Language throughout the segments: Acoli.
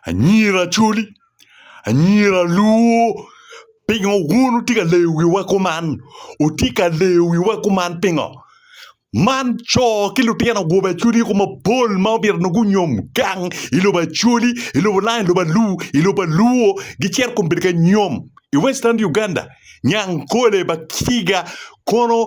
Anyira coli, anyira luwo pingo wun wutye ka leyo wiwa kuman? Wutye ka leyo wiwa kuman pingo? Man co ki lutino gwobe acwali ko mapol ma obito nongo gunyom gang i lobo acwali, i lobo lang, i lobo alu, i lobo aluo gicito kun bedo ka nyom i western Uganda, Nyankole, Bakiga kono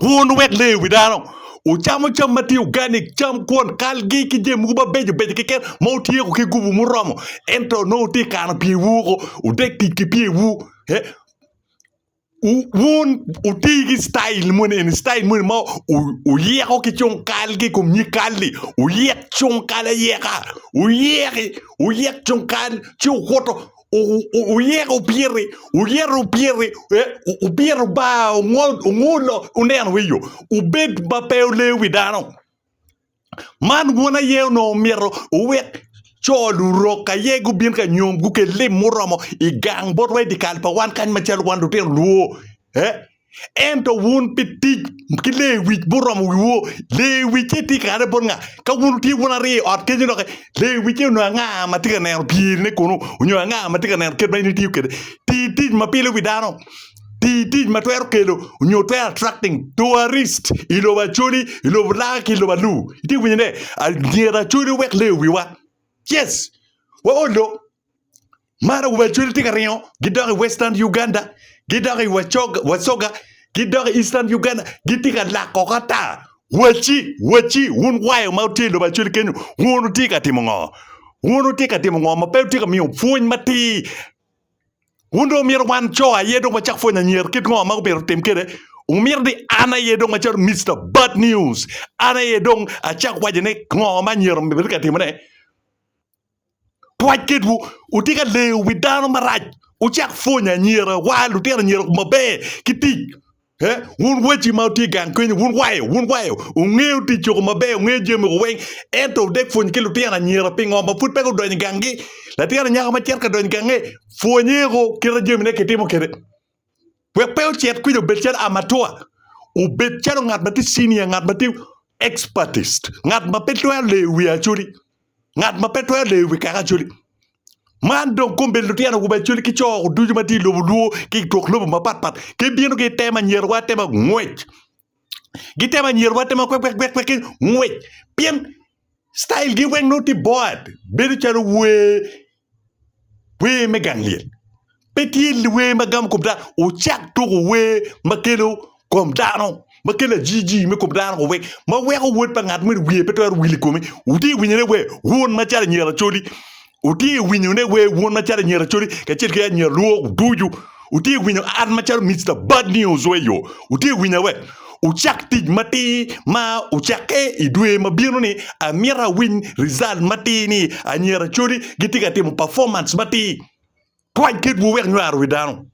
Wun wek leyo wi dano, wucamo cam ma tye uganik, cam kwon, kalgi ki jami mogo mabeco beco keken ma wutyeko ki gubu muromo, ento nongo wutye ka kano pyewu woko, wudek tic ki pyewu. Eh, wu- Wun wuti ki citail moni eni, citail moni ma wu- wuyeko ki cung kalgi i kom nyig kal-li, wuyek cung kal ayeka, wuyeki, wuyek cung kal ci wukuto. oyeko opyete oyero opyete opyete bar ongol ongolo oneno i yo obed ma pe oleyo wi dano man bwun aye onongo myero owek co lurok aye gubin ka nyom gukel lim muromo i gang botwa i dye kal pa wan kany macalo wan lutino lwor. Ento wun pi tic ki lewic muromo wiwu, lewicce tye kare bot nga? Ka wun wutye wun aryo i ot kenyu doki, lewicce onongo anga ma tye ka neno pyerine kunu, onyo anga ma tye ka neno kit ma in itiyo kwede? Ti tic ma pilo wi dano, ti tic ma twero kelo onyo twero attracting tourist i lobo Acholi, i lobo Langa ki i lobo Alur. Itye ka winjone? Myero Acholi owek leyo wiwa. Yes, wa Ollo! Mara wa cwel tye ka ringo gidok i western Uganda gidok i wacoga gidok i eastern Uganda gitye ka lak koko ata waci waci wun wayo ma wutye i lobo acwel kenyo wun wutye ka timo ngo wun wutye ka timo ngo ma pe wutye ka miyo pwony matir wun dong wumito wan co aye dong wacak pwonyo anyira kit ngo ma myero wutim kwede wumito ni an aye dong acalo Mister bad news an aye dong acak waco ni ngo ma anyira myero bed ka timone. Pwoc kedwu, wutye ka leyo wi dano marac. Wucak pwonyo anyira, wa, lutino anyira kum maber ki tic. Eh, wun waci ma wutye i gang kenyo, wun wayo, wun wayo, wungeyo tic kum maber, wungeyo jami kum weng, ento wudek pwony ki lutino anyira. Pingo ma pud pe gudonyo i ganggi? Latin anyaka ma cito ka donyo i gange, pwonye woko kite jamine kitimo kwede. wek pe ocit kwija obed calo amatua, obed calo ngat ma tye cinia, ngat ma tye expertist, ngat ma pe twero leyo wi Acholi, ngat ma pe twero leyo wi kaka Acholi. Man dong kong bedo lutino awobe Acholi ki co ducu ma tye i lobo Luo ki i twok lobo mapatpat gibino gitemo nyerowa atema ngwec. gitemo anyira rwatte ma kwekwekwek ki ngwec pien style gi weng nongo tye bored bedo calo wer wer me gang lyel pe tye wer ma gamo kom dano wucak tuku wer ma kelo kom dano ma kelo ajiji me kom dano wek ma weko wod pa ngat moni wiye pe twero wil i kome wutye ka winyo ne wer wun macalo anyira lacoli. Wutye ka winyo ne wer wun macalo anyira Acoli kacel ki anyira Lwok ducu. Wutye ka winyo an macalo Mister Bad News wa iyo. Wutye ka winya wek wucak tic matir ma wucakke i dwe ma bino ni. Amito awiny result matir ni anyira Acoli gitye ka timo performance matir. Twany kit wu wek nywaro wi dano.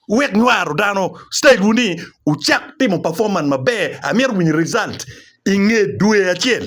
Wek nywaro dano stage wu ni wucak timo performance maber. Amito awiny result inge dwe acel.